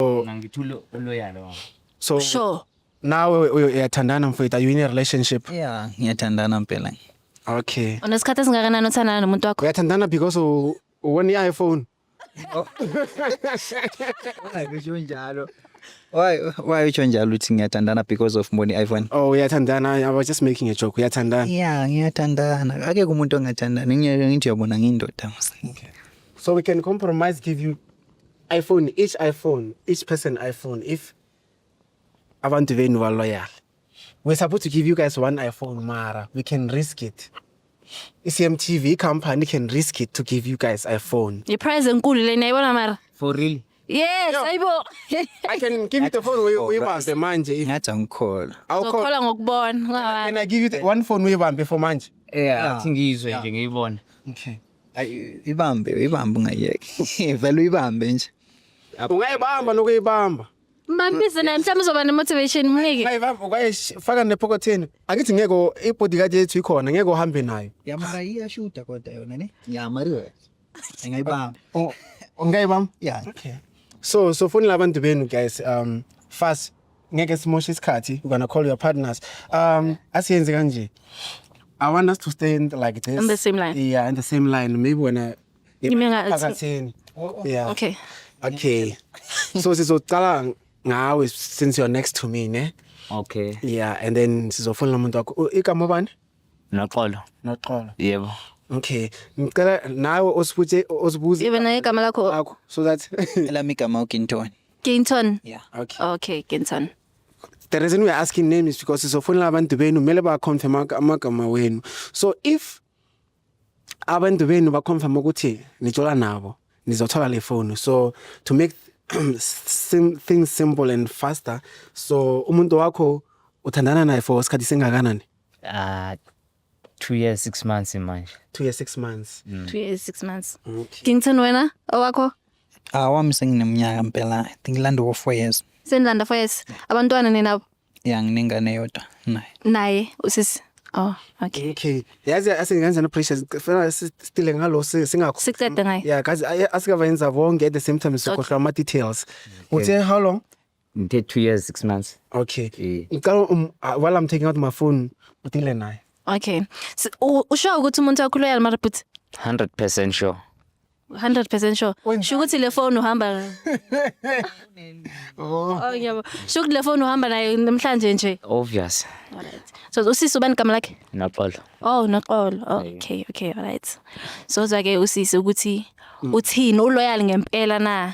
so ngangithula uloyalo wami so sure nawe uyo- uyathandana mfowethu are you in a relationship yeah ngiyathandana mpela okay unesikhathi esingakanani othandana nomuntu wakho uyathandana because u- uwona i-iphone usho njalo why why usho njalo ukuthi ngiyathandana because of mboni iphone oh uyathandana i was just making a joke uyathandana yeah ngiyathandana ake kumuntu ongathandani ngiyeke ngithi uyabona ngiyindoda mos so we can compromise give you iPhone each iPhone each person iPhone if abantu benu ba loyal we're supposed to give you guys one iPhone mara we can risk it iCMTV company can risk it to give you guys iPhone Ye prize enkulu lena yibona mara. for real Yes, Yeah. ayibo. I can give you the phone uyi- uyibambe manje if ngathi angikholwa awukho Ngokhola ngokubona. can I give you the one phone uyibambe for manje yeah athi ngiyizwe nje ngiyibone okay Ayi ibambe, ibambe ungayeki. Vele uyibambe nje. Ungayibamba nokuyibamba. Mbambise naye mhlawumbe uzoba ne-motivation mnike. Ungayibamba ungayifaka nephokotheni. Angithi ngeke i-bodyguard yethu ikhona ngeke uhambe nayo. Yamara iyashuda kodwa yona ne. Ya Mario. Engayibamba. Ungayibamba? Yeah. Okay. So so fonela abantu benu guys um fast ngeke simoshe isikhathi you're gonna call your partners um asiyenze kanje i want us to stay in, like this In the same line. yeah in the same line maybe wena You mean I- phakathini yeah Okay. okay so sizocala ngawe since you're next to me ne Okay. yeah and then sizofonela umuntu wakho U- igama bani Noxolo. noxolo Yebo. okay ngicela nawe osibuze osibuze Even igama lakho akho so that Elami igama uGintoni. Ginton. Yeah. Okay. Okay, Ginton. The reason we are asking name is because sizofonela abantu benu kumele ba confirm amagama wenu. So if abantu benu ba confirm ukuthi nijola nabo nizothola le phone. So to make sim things simple and faster so umuntu wakho uthandana naye for isikhathi singakanani? Ah two years six months manje two years six months mm. two years six months okay. king ten wena owakho ah wami senginemnyaka mpela i think landa wo four years senilanda four years abantwana ninabo ya nginengane yodwa naye naye usisi Oh, okay. Okay. Yazi asingenza no pressure sifuna sitile ngalo singakho. Siqede ngaye. Yeah, kazi asingava yenza bonke at the same time sikhohlwa ama details. Uthe how long? ngithe two years six months okay Eh. ngicela um, ah, while i'm taking out my phone udile naye okay S- u- usho ukuthi umuntu wakho loyal mara bhuti 100% sure 100% sure Wenzani? sho ukuthi le phone uhamba oh oh ngiyabo sho ukuthi le phone uhamba nayo namhlanje nje obvious alright so usisi ubani igama lakhe noxolo oh noxolo Oh, okay okay alright sozwa ke usisi ukuthi uthini uloyal ngempela na